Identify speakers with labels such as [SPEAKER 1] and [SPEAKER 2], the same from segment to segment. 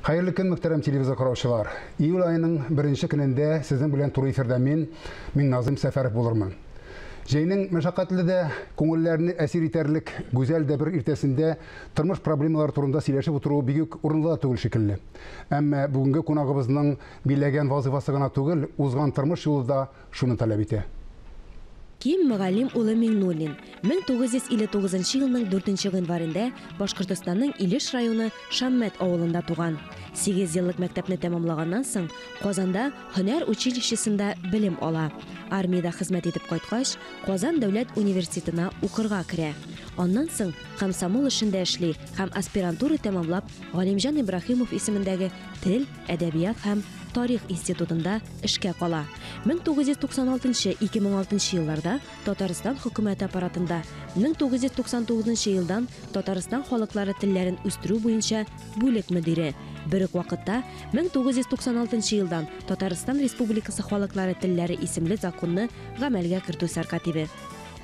[SPEAKER 1] Хәерле көн, мөхтәрәм телевизор караучылар. Июль айының беренче көнендә сезнең белән туры эфирдә мин, мин Назым Сәфәров булырмын. Җәйнең мәшәкатьле дә, күңелләрне әсир итәрлек гүзәл дә бер иртәсендә тормыш проблемалары турында сөйләшеп утыру бик үк урынлы да түгел шикелле. Әмма бүгенге кунагыбызның биләгән вазыйфасы гына түгел, узган тормыш юлы да шуны таләп итә. Ким
[SPEAKER 2] Мөгаллим улы Миңнуллин, 1959 елның 4 гыйнварендә Башкортостанның Илеш районы Шаммәт авылында туган. Сигез еллык мәктәпне тәмамлаганнан соң, Казанда һөнәр училищесында белем ала. Армиядә хезмәт итеп кайткач, Казан дәүләт университетына укырга керә. Аннан соң комсомол эшендә эшли һәм аспирантура тәмамлап Галимҗан Ибраһимов исемендәге тел, әдәбият һәм тарих институтында эшкә кала. 1996-2006 елларда Татарстан хөкүмәте аппаратында, 1999 елдан Татарстан халыклары телләрен үстерү буенча бүлек мөдире. Бер үк вакытта 1996 елдан Татарстан Республикасы халыклары телләре исемле законны гамәлгә кертү сәркатибе.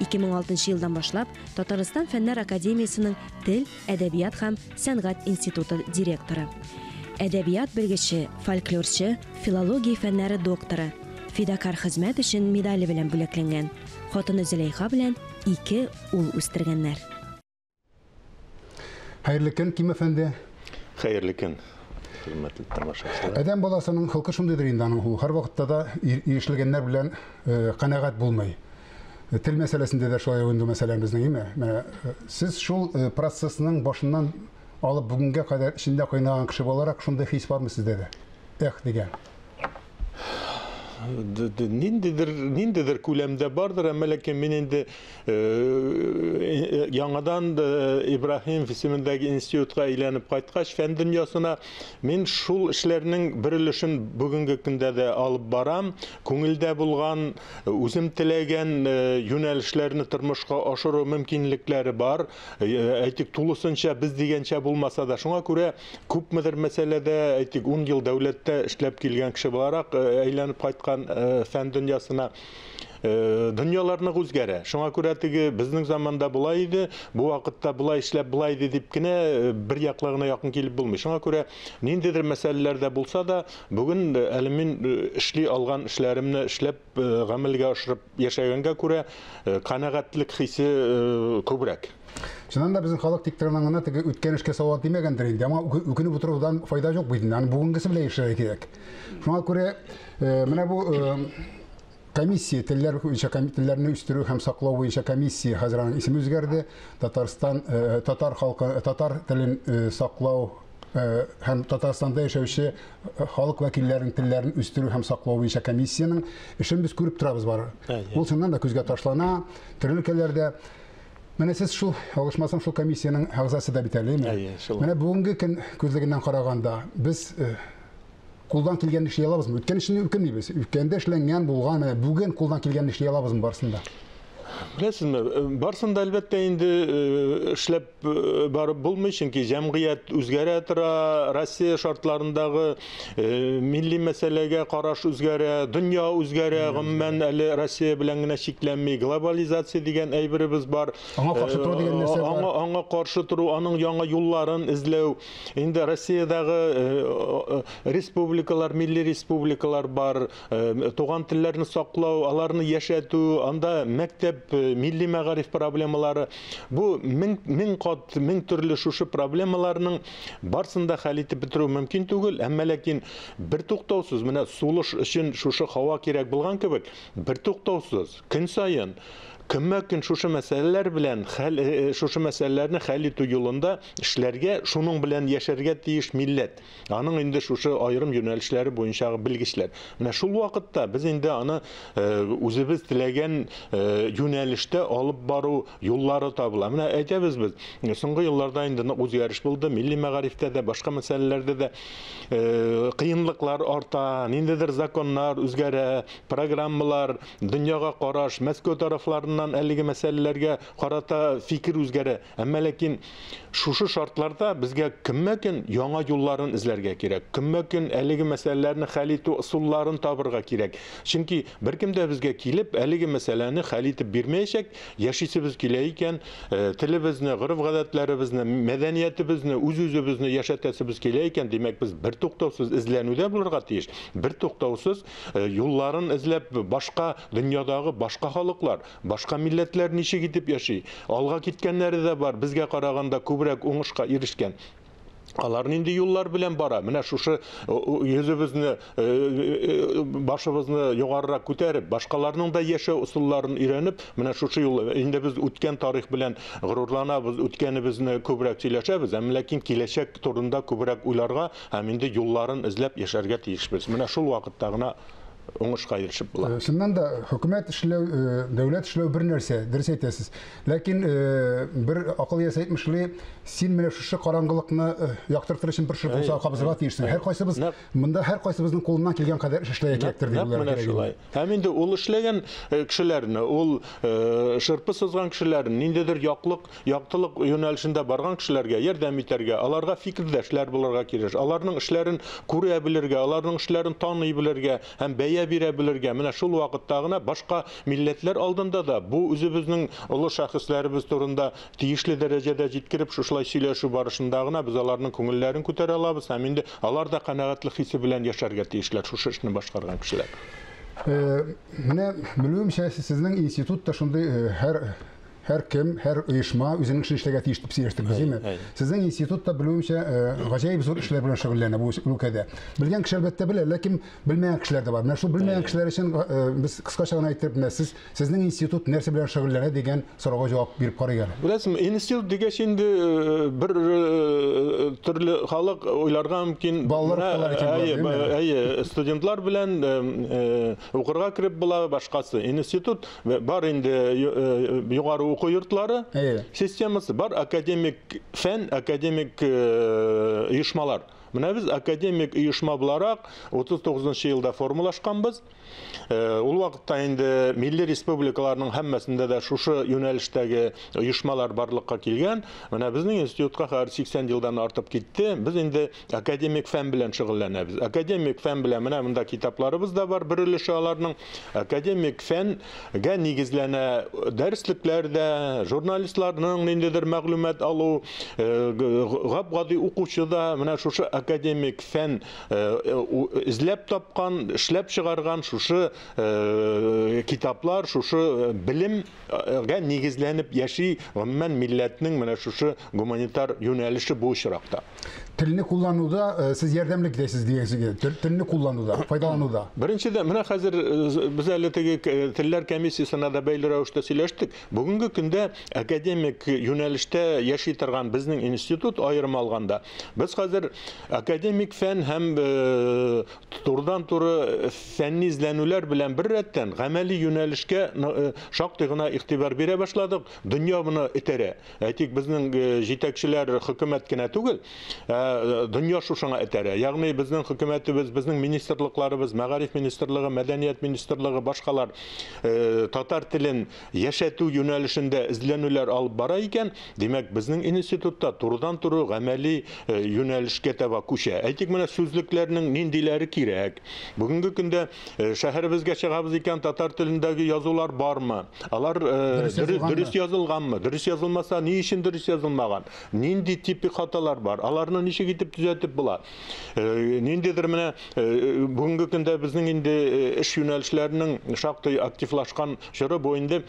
[SPEAKER 2] 2006 елдан башлап Татарстан Фәннәр академиясенең тел Әдәбият һәм сәнгать институты директоры, әдәбият белгече, фольклорчы, филология фәннәре докторы, Фидакарь хезмәт өчен медале белән бүләкләнгән. Хатыны Зөләйха белән ике ул үстергәннәр.
[SPEAKER 1] Хәерле көн, Ким әфәнде! Хәерле көн,
[SPEAKER 3] хөрмәтле тамашачылар! Адәм баласының холкы
[SPEAKER 1] шундыйдыр инде, аның һәрвакытта да ирешлегәннәр белән канәгать булмый. Э, тел мәсьәләсендә дә шулай инде мәсьәлә безнең име менә э, сез шул э, процессның башыннан алып бүгенгә кадәр эчендә кайнаган кеше буларак шундый хис бармы сездә дә эх дигән
[SPEAKER 3] ниндидер ниндидер күләмдә бардыр әмма ләкин мин инде яңадан ибраһим исемендәге институтка әйләнеп кайткач фән дөньясына мин шул эшләрнең бер өлешен бүгенге көндә дә алып барам күңелдә булган Үзем теләгән юнәлешләрне тормышка ашыру мөмкинлекләре бар. Әйтик, тулысынча без дигәнчә булмаса да, шуңа күрә күпмедер мәсьәләдә, әйтик, 10 ел дәүләттә эшләп килгән кеше буларак әйләнеп кайткан фән дөньясына дөньяларны үзгәрә. Шуңа күрә теге безнең заманда болай иде, бу вакытта болай эшләп болай иде дип кенә бер яклы гына якын килеп булмый. Шуңа күрә ниндидер мәсьәләләрдә булса да, Бүген әле мин эшли алган эшләремне эшләп, гамәлгә ашырып яшәгәнгә күрә, канәгатьлек хисе күбрәк. Чыннан да,
[SPEAKER 1] безнең халык тик торган гына теге үткән эшкә салават димәгәндер инде. Аңа үкенеп утырудан файда юк бит инде. Аны бүгенгесе белән яшәргә кирәк. Шуңа күрә менә бу Комиссия, телләр буенча телләрне үстерү һәм саклау буенча комиссия, хәзер аның исеме үзгәрде. Татарстан, э, татар халкы, э, татар телен э, саклау һәм Татарстанда яшәүче халык вәкилләренең телләрен үстерү һәм саклау буенча комиссиянең эшен без күреп торабыз бар. Ул чыннан да күзгә ташлана, төрле өлкәләрдә Менә сез шул алышмасын шул комиссиянең әгъзасы да бит әле, Менә бүгенге көн күзлегеннән караганда без Кулдан килгән эшли алабызмы? Үткән эшне үкенмибез. Үткәндә эшләнгән, булган, менә бүген кулдан килгән эшли алабызмы барысын да? Беләсезме,
[SPEAKER 3] э, барысын да әлбәттә инде э, эшләп э, барып булмый, чөнки җәмгыять үзгәрә тора, Россия шартларындагы милли мәсьәләгә караш үзгәрә, дөнья үзгәрә, гомумән әле Россия белән генә чикләнми, глобализация дигән әйберебез бар. Аңа каршы тору дигән
[SPEAKER 1] нәрсә бар. Аңа, аңа каршы тору,
[SPEAKER 3] аның яңа юлларын эзләү. Инде Россиядәге республикалар, милли республикалар бар, туган телләрне саклау, аларны яшәтү, анда мәктәп, милли мәгариф проблемалары. Бу мең, мең кат, мең төрле шушы проблемаларның барсын да хәл итеп бетерү мөмкин түгел, әмма ләкин бертуктаусыз менә сулыш өчен шушы һава кирәк булган кебек, бертуктаусыз көн саен көнмә-көн шушы мәсьәләләр белән хәл, шушы мәсьәләләрне хәл итү юлында Эшләргә, шуның белән яшәргә тиеш милләт, аның инде шушы аерым юнәлешләре буенчагы белгечләр. Менә шул вакытта без инде аны үзебез теләгән юнәлештә алып бару юллары табыла. Менә әйтәбез без, соңгы елларда инде нык үзгәреш булды, милли мәгарифтә дә, башка мәсьәләләрдә дә кыенлыклар арта, ниндидер законнар үзгәрә, программалар, дөньяга караш, Мәскәү тарафларыннан әлеге мәсьәләләргә карата фикер үзгәрә. Әмма ләкин шушы шартларда безгә көнмә-көн яңа юлларын эзләргә кирәк. Көнмә-көн әлеге мәсьәләләрне хәл итү ысулларын табырга кирәк. Чөнки беркем дә безгә килеп, әлеге мәсьәләне хәл итеп бирмәячәк. Яшисебез килә икән, э, телебезне, гореф-гадәтләребезне, мәдәниятебезне, үз-үзебезне яшәтәсебез килә икән, димәк, без бертуктаусыз эзләнүдә булырга тиеш. Бертуктаусыз э, юлларын эзләп, башка дөньядагы башка халыклар, Башка милләтләр ничек итеп яши? Алга киткәннәре дә бар, безгә караганда күбрәк уңышка ирешкән. Алар нинди юллар белән бара? Менә шушы йөзебезне, башыбызны югарырак күтәреп, башкаларның да яшәү ысулларын өйрәнеп, менә шушы юл. Инде без үткән тарих белән горурланабыз, үткәнебезне күбрәк сөйләшәбез, әмма ләкин киләчәк турында күбрәк уйларга һәм инде юлларын эзләп яшәргә тиешбез. Менә шул вакытта гына уңышка ирешеп була. Э, чыннан да хөкүмәт
[SPEAKER 1] эшләү, э, дәүләт эшләү бер нәрсә, дөрес әйтәсез. Ләкин э, бер акыл иясе әйтмешли, син менә шушы караңгылыкны яктыртыр өчен бер шыр булса кабызырга тиешсең. Һәр кайсыбыз монда һәр кайсыбызның кулыннан килгән кадәр эш эшләргә кирәктер дип уйларга кирәк. Шулай. Һәм инде ул
[SPEAKER 3] эшләгән кешеләрне, ул шырпы сызган кешеләрне, ниндидер яклык Яктылык юнәлешендә барган кешеләргә ярдәм итәргә, аларга фикердәшләр булырга киреш, аларның эшләрен күрә белергә, аларның эшләрен таный белергә һәм бәя бирә белергә, менә шул вакытта гына башка милләтләр алдында да бу үзебезнең олы шәхесләребез турында тиешле дәрәҗәдә җиткереп, шушылай сөйләшү барышында гына без аларның күңелләрен күтәрә алабыз һәм инде алар да канәгатьлек хисе белән яшәргә тиешләр, шушы эшне башкарган кешеләр.
[SPEAKER 1] Менә, белүемчә, сезнең институт та шундый һәр һәркем, һәр оешма үзенең эшен эшләргә тиеш дип сөйләштек, димме? Сезнең институт та белүемчә гаҗәеп зур эшләр белән шөгыльләнә бу өлкәдә. Белгән кеше әлбәттә белә, ләкин белмәгән кешеләр дә бар. Менә шул белмәгән кешеләр өчен без кыскача гына әйтеп, менә сез сезнең институт нәрсә белән шөгыльләнә дигән сорауга җавап биреп карыйк әле. Беләсезме, институт
[SPEAKER 3] дигәч инде бер төрле халык уйларга мөмкин. Балалар әйе, студентлар белән укырга кереп була, башкасы. Институт Бар инде югары уку йортлары системасы, бар академик фән, академик оешмалар. Менә без академик оешма буларак 39 елда формалашканбыз. Э, ул вакытта инде милли республикаларның һәммәсендә дә шушы юнәлештәге оешмалар барлыкка килгән. Менә безнең институтка хәзер 80 елдан артып китте. Без инде Академик фән белән шөгыльләнәбез. Академик фән белән менә монда китапларыбыз да бар, бер өлеше аларның. Академик фәнгә нигезләнә дәреслекләр дә, журналистларның ниндидер мәгълүмат алу, э, гап-гади укучы да менә шушы академик фән э, эзләп тапкан, эшләп чыгарган шушы э, китаплар, шушы белемгә нигезләнеп яши, гомумән милләтнең менә шушы гуманитар юнәлеше бу очракта. телне
[SPEAKER 1] куллануда э, сез ярдәмле китәсез дигән телне куллануда файдалануда беренчедән менә хәзер
[SPEAKER 3] э, без әле теге э, телләр комиссиясенә дә бәйле рәвештә сөйләштек бүгенге көндә академик юнәлештә яши торган безнең институт аерым алганда без хәзер академик фән һәм турыдан туры фәнни эзләнүләр белән бер рәттән гамәли юнәлешкә шактый гына игътибар бирә башладык дөнья моны этәрә Әйтик, безнең э, җитәкчеләр хөкүмәт кенә түгел, ә э, дөнья шушыңа этәрә. Ягъни безнең хөкүмәтебез, безнең министрлыкларыбыз, мәгариф министрлыгы, мәдәният министрлыгы, башкалар э, татар телен яшәтү юнәлешендә эзләнүләр алып бара икән, димәк, безнең институтта турыдан туры гамәли юнәлешкә таба күчә. Әйтик, менә сүзлекләрнең ниндиләре кирәк. Бүгенге көндә Шәһәребезгә чыгабыз икән, татар телендәге язулар бармы? Алар дөрес язылганмы? Дөрес язылмаса, ни өчен дөрес язылмаган? Нинди типик хаталар бар? Аларны ничек итеп төзәтеп була? Ниндидер менә бүгенге көндә безнең инде эш юнәлешләренең шактый активлашкан чоры бу инде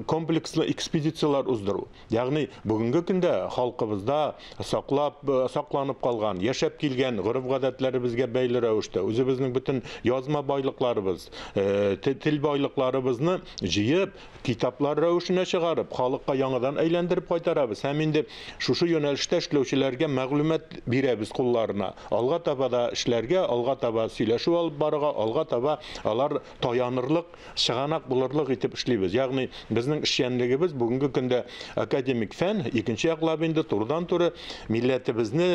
[SPEAKER 3] комплекслы экспедицияләр уздыру. Ягъни, бүгенге көндә халкыбызда саклап, сакланып калган, яшәп килгән гореф-гадәтләребезгә бәйле рәвештә, үзебезнең бөтен язма байлыкларыбыз, тел байлыкларыбызны җыеп, китаплар рәвешенә чыгарып, халыкка яңадан әйләндереп кайтарабыз һәм инде шушы юнәлештә эшләүчеләргә мәгълүмат бирәбез кулларына. Алга таба да эшләргә, алга таба сөйләшү алып барырга, алга таба алар таянырлык, чыганак булырлык итеп эшлибез. Ягъни безнең эшчәнлегебез бүгенге көндә академик фән, икенче яклап инде турыдан-туры милләтебезне,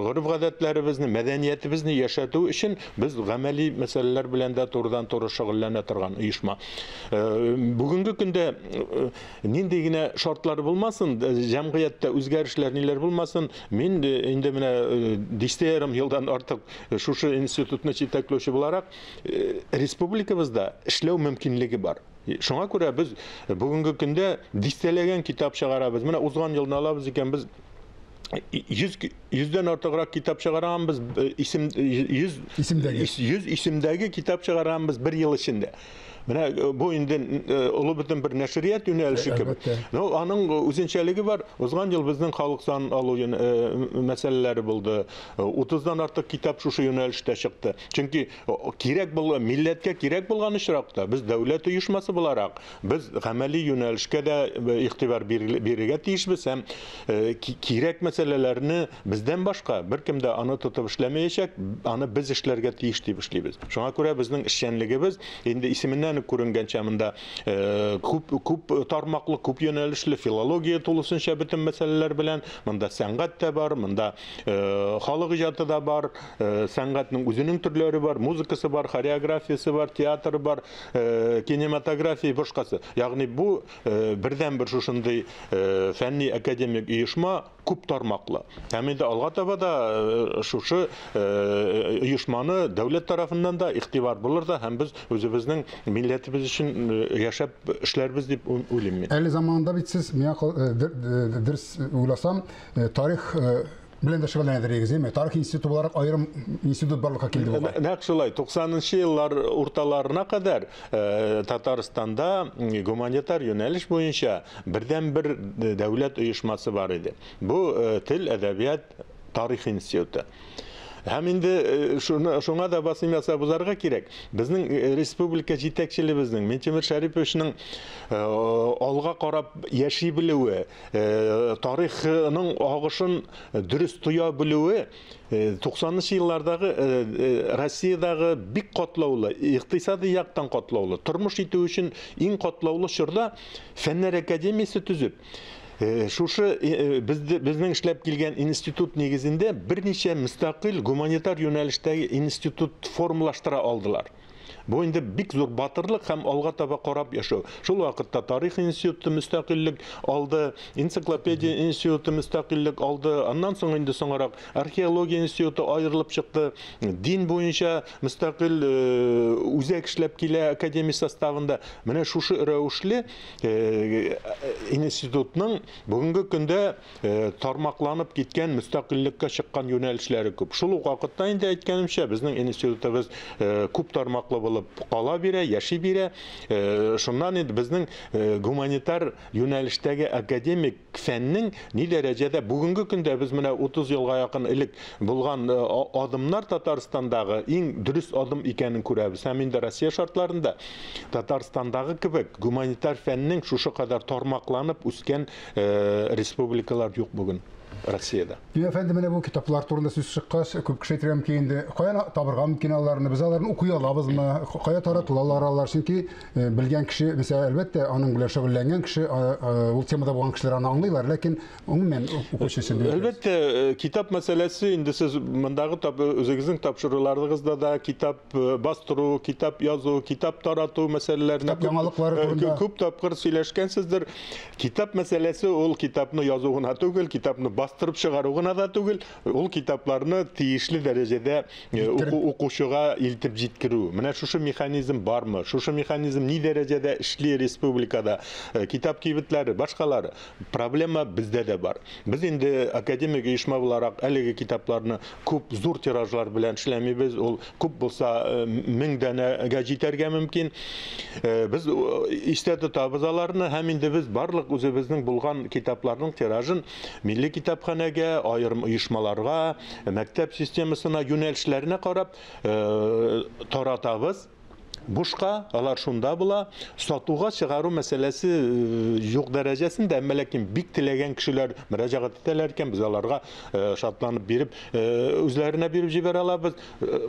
[SPEAKER 3] гореф-гадәтләребезне, мәдәниятебезне яшәтү өчен без гамәли мәсьәләләр белән дә турыдан-туры шөгыльләнә торган оешма. Э, бүгенге көндә э, нинди генә шартлар булмасын, э, җәмгыятьтә үзгәрешләр ниләр булмасын, мин инде менә дистә ярым елдан артык шушы институтны җитәкләүче буларак, республикабызда эшләү мөмкинлеге бар. Шуңа күрә без бүгенге көндә дистәләгән китап чыгарабыз. Менә узган елны алабыз икән без 100 100дән артыграк китап чыгаранбыз, исем 100 исемдәге 100 исемдәге китап чыгаранбыз бер ел эчендә. Менә э, бу инде э, олы бөтен бер нәшрият юнәлеше кебек. Но аның үзенчәлеге бар. Узган ел безнең халык сан алу э, мәсьәләләре булды. 30-дан артык китап шушы юнәлештә чыкты. Чөнки кирәк булган милләткә кирәк булган очракта без дәүләт оешмасы буларак без гамәли юнәлешкә дә игътибар бирергә тиешбез һәм кирәк мәсьәләләрне Бездән башка беркем дә аны тотып эшләмәячәк, аны без эшләргә тиеш дип эшлибез. Шуңа күрә безнең эшчәнлегебез, инде исеменнән үк күренгәнчә, монда күп, күп тармаклы, күп юнәлешле, филология тулысынча бөтен мәсьәләләр белән, монда сәнгать тә бар, монда халык иҗаты да бар, сәнгатьнең үзенең төрләре бар, музыкасы бар, хореографиясе бар, театры бар, кинематография, башкасы. Ягъни бу бердәнбер шушындый фәнни-академик оешма, күп тармаклы. Һәм инде алга таба да шушы оешманы дәүләт тарафыннан да игътибар булыр да һәм без үзебезнең милләтебез өчен яшәп эшләрбез дип уйлыйм мин. Әле заманында бит сез, миңа
[SPEAKER 1] дөрес уйласам, тарих белән дә шөгыльләнә дирегез, әйме? Тарих институты буларак аерым институт барлыкка килде бугай. Нәкъ шулай. 90-нчы
[SPEAKER 3] еллар урталарына кадәр Татарстанда гуманитар юнәлеш буенча Бердәнбер дәүләт оешмасы бар иде. Бу, Тел, әдәбият, тарих институты. Һәм инде шуны, шуңа да басым ясап узарга кирәк. Безнең республика җитәкчелебезнең, Минтимер Шәриповичның алга карап яши белүе, тарихның агышын дөрес тоя белүе 90 нчы еллардагы Россиядагы бик катлаулы, икътисади яктан катлаулы, тормыш итү өчен иң катлаулы чорда Фәннәр академиясе төзеп, шушы безнең эшләп килгән институт нигезендә берничә мөстәкыйль гуманитар юнәлештәге институт формалаштыра алдылар. Бу инде бик зур батырлык һәм алга таба карап яшәү. Шул вакытта тарих институты мөстәкыйльлек алды, энциклопедия институты мөстәкыйльлек алды. Аннан соң инде соңарак археология институты аерылып чыкты. Дин буенча мөстәкыйль үзәк эшләп килә академия составында. Менә шушы рәвешле институтның бүгенге көндә тармакланып киткән мөстәкыйльлеккә чыккан юнәлешләре күп. Шул ук вакытта инде әйткәнемчә, безнең институтыбыз күп тармаклы булып кала бирә, яши бирә. Шуннан инде безнең гуманитар юнәлештәге академик Фәннең ни дәрәҗәдә бүгенге көндә без менә 30 елга якын элек булган адымнар Татарстандагы иң дөрес адым икәнен күрәбез. Һәм инде Россия шартларында Татарстандагы кебек гуманитар фәннең шушы кадәр тармакланып үскән республикалар юк бүген Россиядә. Дин әфәнде менә бу
[SPEAKER 1] китаплар турында сүз чыккач, күп кеше әйтергә мөмкин инде, каян табырга мөмкин аларны, без аларны укый алабызмы, кая таратылалар алар, чөнки э, белгән кеше, мисал, әлбәттә, аның белән шөгыльләнгән кеше, ул темада булган кешеләр аны аңлыйлар, ләкин гомумән укучы өчен. Әлбәттә, э, китап
[SPEAKER 3] мәсьәләсе инде сез мондагы үзегезнең тапшыруларыгызда да китап Э, бастыру, китап язу, китап тарату мәсьәләләренә э, күп тапкыр сөйләшкәнсездер. Китап мәсьәләсе ул китапны язу гына түгел, китапны бастырып чыгару гына да түгел, ул китапларны тиешле дәрәҗәдә э, укучыга илтеп җиткерү. Менә шушы механизм бармы? Шушы механизм ни дәрәҗәдә эшли республикада? Китап кибетләре, башкалары. Проблема бездә дә бар. Без инде академик оешма буларак әлеге китапларны күп зур тиражлар белән эшләмибез. Ул күп булса 1000 данәгә җитәргә мөмкин. Без истә тотабыз аларны һәм инде без барлык үзебезнең булган китапларның тиражын милли китапханәгә, аерым оешмаларга, мәктәп системасына, юнәлешләренә карап таратабыз. бушка, алар шунда була. Сатуга чыгару мәсьәләсе э, юк дәрәҗәсендә, әмма ләкин бик теләгән кешеләр мөрәҗәгать итәләр икән, без аларга э, шатланып биреп, э, үзләренә биреп җибәрә алабыз.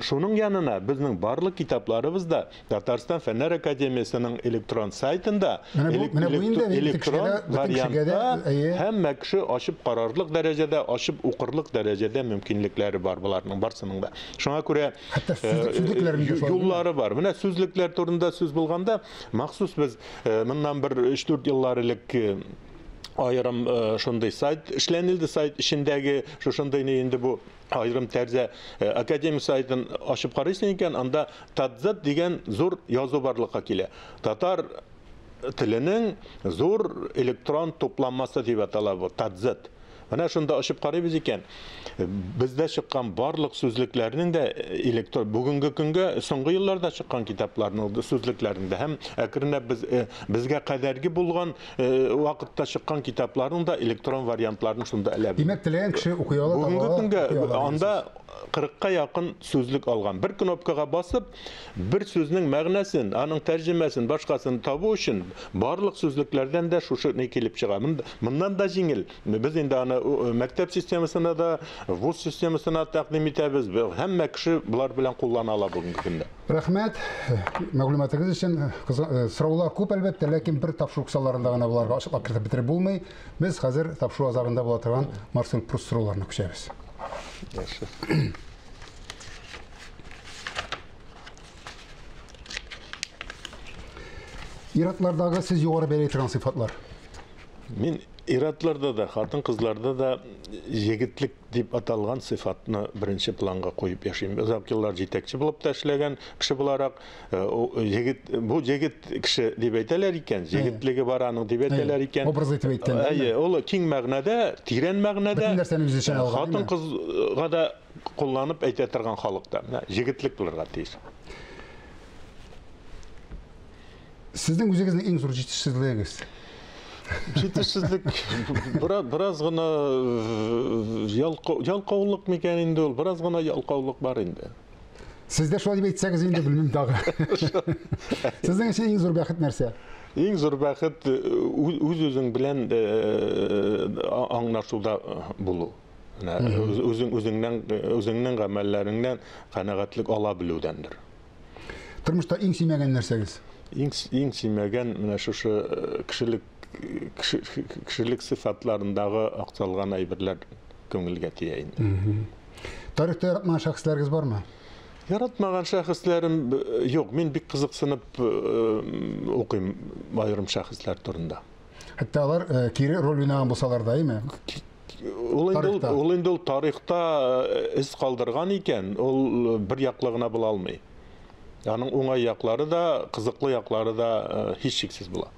[SPEAKER 3] Шуның янына безнең барлык китапларыбыз да Татарстан фәннәр академиясенең электрон сайтында электрон вариантта һәммә кеше ачып карарлык дәрәҗәдә, ачып укырлык дәрәҗәдә мөмкинлекләре бар боларның барсының да. Шуңа күрә Хәтта сүзлекләрен дә Юллары бар. Менә сүзлекләр турында сүз булганда, махсус без моннан бер 3-4 еллар элек айрым э, шундый сайт эшләнелде сайт эчендәге шушындый не инде бу айрым тәрзә э, академия сайтын ачып карыйсың икән анда тадзет дигән зур язу барлыкка килә татар теленең зур электрон тупланмасы дип атала бу, тадзет. Менә шунда ачып карыйбыз икән, бездә чыккан барлык сүзлекләрнең дә э, электор бүгенге көнгә соңгы елларда чыккан китапларның сүзлекләрендә һәм әкренләп без э, безгә кадәрге булган э, вакытта чыккан китапларның да электрон вариантларын шунда эләбез. Димәк, теләгән кеше укый
[SPEAKER 1] ала. Бүгенге көнгә
[SPEAKER 3] анда 40-ка якын сүзлек алган. Бер кнопкага басып, Бер сүзнең мәгънәсен, аның тәрҗемәсен, башкасын табу өчен барлык сүзлекләрдән дә шушы ни килеп чыга. Моннан да җиңел. Без инде аны мәктәп системасына да, вуз системасына тәкъдим итәбез. Һәммә кеше болар белән куллана ала бүгенге көндә. Рәхмәт
[SPEAKER 1] мәгълүматыгыз өчен. Э, сораулар күп, әлбәттә, ләкин бер тапшыру кысаларында гына боларга ачыклап кертеп бетереп булмый. Без хәзер тапшыру азагында була торган Марсел Прус сорауларына күчәбез. Иратлардагы сез югары бәяләй торган сыйфатлар. Мин
[SPEAKER 3] иратларда да, хатын-кызларда да егетлек дип аталган сыйфатны беренче планга куеп яшим. Озак еллар җитәкче булып та эшләгән кеше буларак, э, егет бу егет кеше дип әйтәләр икән, егетлеге бар аның дип әйтәләр икән. Образ итеп әйткән. Әйе,
[SPEAKER 1] ул киң мәгънәдә,
[SPEAKER 3] тирән мәгънәдә. Хатын-кызга да Кулланып әйтә торган халык та, менә җегетлек булырга тиеш.
[SPEAKER 1] Сезнең үзегезнең иң зур җитешсезлегегез?
[SPEAKER 3] Җитешсезлек бераз бераз гына э, ялка- ялкаулык микән инде ул? Бераз гына ялкаулык бар инде. Сез дә шулай
[SPEAKER 1] дип әйтсәгез инде белмим тагы. Сезнең өчен иң зур бәхет нәрсә? Иң зур бәхет
[SPEAKER 3] э, үз- үз-үзең белән э, а- аңлашуда э, булу. Менә үзең үзеңнән үзеңнең гамәлләреңнән канәгатьлек ала белүдәндер. Тормышта
[SPEAKER 1] иң сөймәгән нәрсәгез? Иң иң
[SPEAKER 3] сөймәгән менә шушы э, кешелек кешелек сыйфатларындагы акталган әйберләр күңелгә тия инде. Тарихта
[SPEAKER 1] яратмаган шәхесләрегез бармы? Яратмаган
[SPEAKER 3] шәхесләрем э, юк, мин бик кызыксынып э, укыйм аерым шәхесләр турында. Хәтта алар
[SPEAKER 1] кире роль уйнаган булсалар да, әйме? Ул инде ул,
[SPEAKER 3] ул инде ул тарихта эз э, калдырган икән, ул э, бер яклы гына була алмый. Аның уңай яклары да, кызыклы яклары да э, һичшиксез була.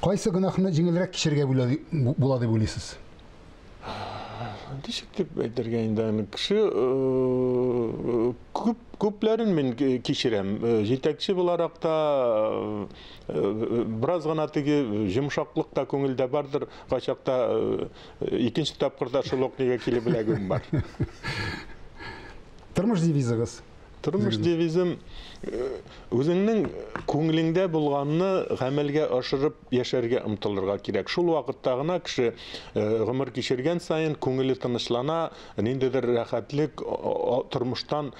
[SPEAKER 1] Кайсы гөнаһны җиңелрәк кичергә була дип уйлыйсыз?
[SPEAKER 3] Ничек дип әйтергә инде аны кеше күп күпләрен мин кичерәм. Җитәкче буларак та Бераз гына теге йомшаклык та күңелдә бардыр, кайчакта икенче тапкырда шул ук нигә килеп эләгүем бар.
[SPEAKER 1] Тормыш девизыгыз? Тормыш девизым
[SPEAKER 3] үзеңнең күңелеңдә булганны гамәлгә ашырып яшәргә омтылырга кирәк. Шул вакытта гына кеше гомер кичергән саен күңеле тынычлана, ниндидер рәхәтлек тормыштан